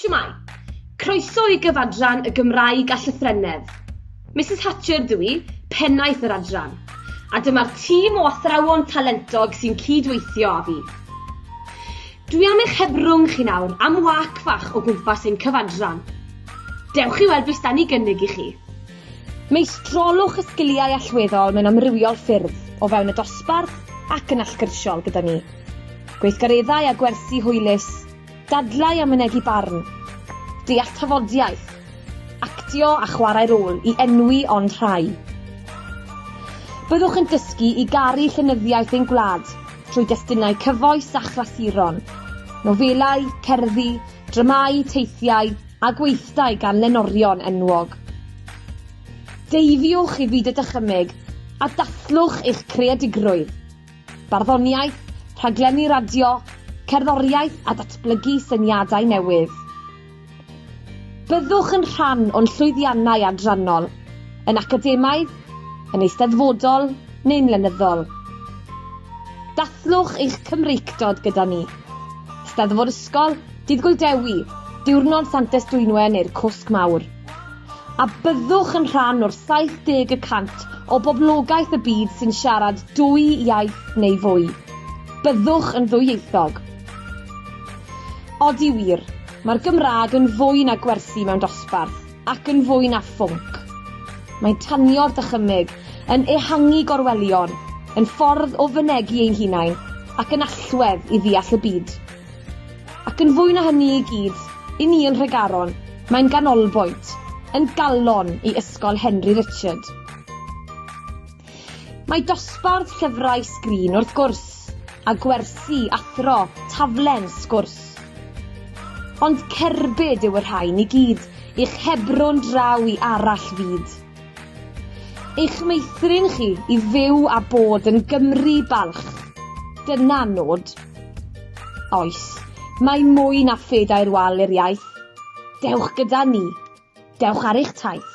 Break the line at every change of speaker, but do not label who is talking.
Shwmae! Croeso i gyfadran y Gymraeg a Llythrennedd. Misus Hatcher dw i, Pennaeth yr adran, a dyma'r tîm o athrawon talentog sy'n cyd-weithio â fi. Dwi am eich hebrwng chi nawr am wâc fach o gwmpas ein cyfadran. Dewch i weld be' sdan ni gynnig i chi. Meistrolwch y sgiliau allweddol mewn amrywiol ffyrdd, o fewn y dosbarth ac yn allgyrsiol gyda ni. Gweithgareddau a gwersi hwylus, dadlau a mynegi barn, deall tafodiaith, actio a chwarae rôl i enwi ond rhai. Byddwch yn dysgu i garu llenyddiaeth ein gwlad trwy destunau cyfoes a chlasuron, nofelau, cerddi, dramâu, teithiau, a gweithdai gan lenorion enwog. Deifiwch i fyd y dychymyg a dathlwch eich creadigrwydd. Barddoniaeth, rhaglenni radio, cerddoriaeth a datblygu syniadau newydd. Byddwch yn rhan o'n llwyddiannau adrannol, yn academaidd, yn eisteddfodol neu'n lenyddol. Dathlwch eich Cymreictod gyda ni. Steddfod Ysgol Dydd Gŵyl Dewi, Diwrnod Santes Dwynwen neu'r Cwsg Mawr. A byddwch yn rhan o'r 70 y cant o boblogaeth y byd sy'n siarad dwy iaith neu fwy. Byddwch yn ddwyieithog. Odi wir, mae'r Gymraeg yn fwy na gwersi mewn dosbarth, ac yn fwy na phwnc. Mae'n tanio'r dychymyg, yn ehangu gorwelion, yn ffordd o fynegi ein hunain, ac yn allwedd i ddeall y byd. Ac yn fwy na hynny i gyd, i ni yn Nhregaron, mae'n ganolbwynt, yn galon i Ysgol Henry Richard. Mae dosbarth llyfrau sgrin, wrth gwrs, a gwersi, athro, taflen, sgwrs. Ond cerbyd yw y rhain i gyd i'ch hebrw'n draw i arall fyd. Eich meithrin chi i fyw a bod yn Gymry balch. Dyna nod. Oes, mae mwy na phedair wal i'r iaith. Dewch gyda ni. Dewch ar eich taith.